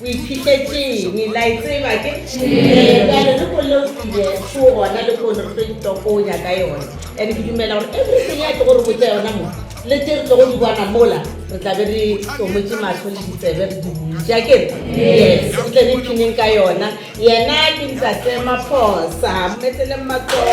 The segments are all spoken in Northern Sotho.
O iphitetšeng? La e tseba ke? Ee. Bjale le kone o tsile šo gona le kone re tlo itokonya ka yona. And ke dumela gore everything ya tlo go re botša yona mo, le tše re tlo go di bona mola, re tla be re tsomotše mahlo le ditsebe re di butše. Akere? Yes. Re tle re ipshineng ka yona. Yena ke Ntate Maphosa. Mo eteleng matsogo.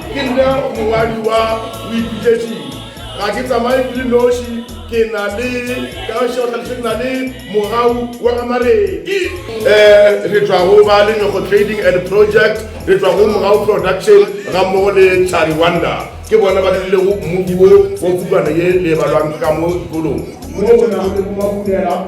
Ke nna mongwadi wa Boipitšetšing. Ga ke tsamaye ke le noši, ke na le, ka go šega tlhalošo, ke na le mogau wa ga Mareki. Re tšwa go ba Lenyokgo Trading and Project, re tšwa go Mogau Production gammogo le Tlhari Wonder. Ke bona ba dirilego mmuku wo wa pukwana ye le e balwang ka mo dikolong. Moo go nago le bo Makumela.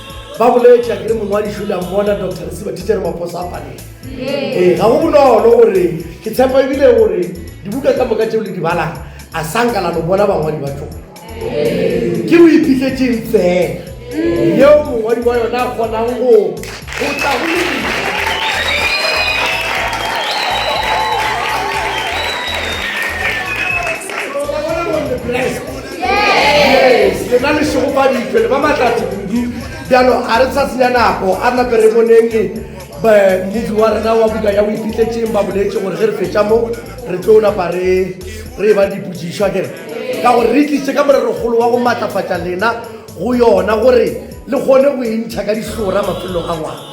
Ba boletše akere mongwadiši o le a mmona Doctor Lesiba Thitšere Maphosa a paleng. Ee, ga go bonolo gore ke tshepa ebile gore dibuka tsa moka tšeo le di balang a sa nka la lo bona bangwadi ba tšone. Ke boipitletšeng fela yeo mongwadi wa yona a kgonang go go tla go le Christ. yes le na le šego fa dipele ba matlatse kudu bjalo ga re sa senya nako a nape re boneng mmufi wa rena wa buka ya boiphitletseng ba boletse gore ge re fetša mo re tlo napa re re ba diputsišwa kere ka gore re tlise ka morerogolo wa go maatlafatša lena go yona gore le kgone go e ntšha ka dihlora mafelelong a ngwana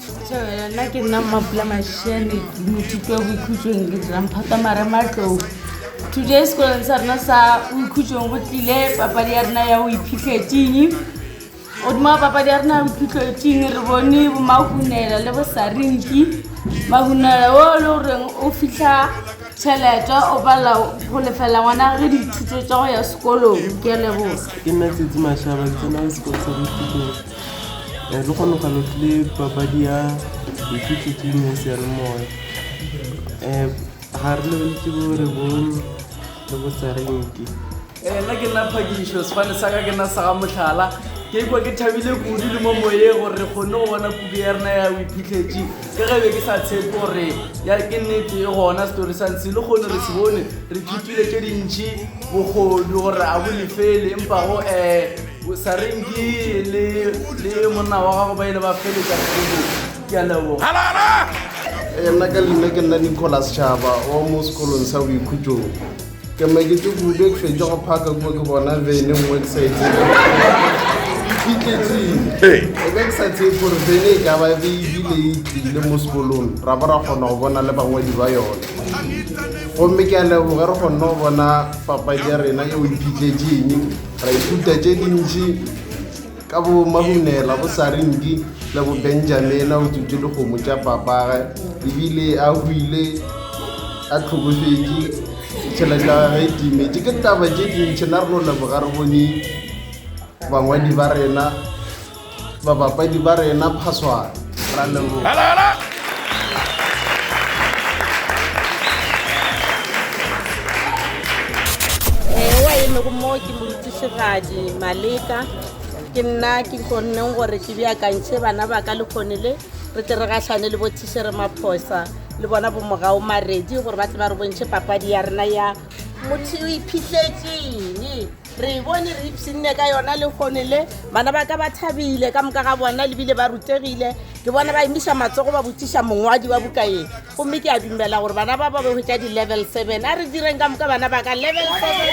Setšhabela nna ke nna mmapula mashane mothito wa boikhutsong ke dirang phata mare matlou today sekolong sa rena sa boikhutsong go tlile papadi ya rena ya o iphitlhetseng godimo wa papadi ya rena ya boiphitlhetseng re bone bomahunela le bosarinki mahunela o e le goreng o fitlha tšhelete o palela go lefela ngwana ge dithuto tsa go ya sekolong ke a leboga ke nna tsetse mashaba ke tsena sekolo sa boikhutsong Lehono ga lo tle papadi ya boithutetšing ya seyalemoya um ga re lebeletse bo re bone le bo tsarente ee nna ke nna phakišo sefane sa ka ke nna sa ga motlhala ke ikwa ke thabile kudu le mo moye gore re kgonne go bona kudu ya rena ya boiphitlhetši ka ge be ke sa tshepe gore ya ke nnete e gona setori sa ntse le kgone re se bone re ithutile tše dintšhi bogodu gore a bo lefele empa go um Sarenki le le monna wa gago ba ile ba feletša kgomo ke a leboga Eh, nna ka leina ke nna nicholas tšhaba wa mo sekolong sa boikhutsong ke mekete kube ke fetša go phaka kua ke bona vene nngwe ke sa e tsebe fitletseng Hey. e be ke sa tsebe gore vene e ka ba be ebile e tlile mo sekolong ra bo ra kgona go bona le bangwadi ba yone gomme ke a leboge re kgonne go bona papadi ya rena eo e phitletseng Ra ithuta tše dintši ka bo Mahunela, bo Saringi le bo Benjamin a o tsutše dikgomo tša papage ebile a huile a tlhokofetše tšhelete ya gage e timetše ke taba tše dintšhi na re no leboga re bone bangwadi ba rena Babapadi ba rena phaswana. Ra leboga. Hala hala. Ewa e lego mo ke morutišigadi Maleka ke nna ke kgonneng gore ke beakantšhe bana ba ka le kgone le re tle re gahlane le bothišere maphosa le bona bomogao maredi gore ba tle ba re bontšhe papadi ya rena ya motho o iphitletseng Re e bone, re ipshinne ka yona lehono le. Bana ba ka ba thabile, ka moka ga bona le bile ba rutegile. Ke bona ba emiša matsogo ba botšiša mongwadi wa buka ye. Gomme ke a dumela gore bana ba ba ba hwetša di-level seven. A re direng ka moka bana ba ka level seven.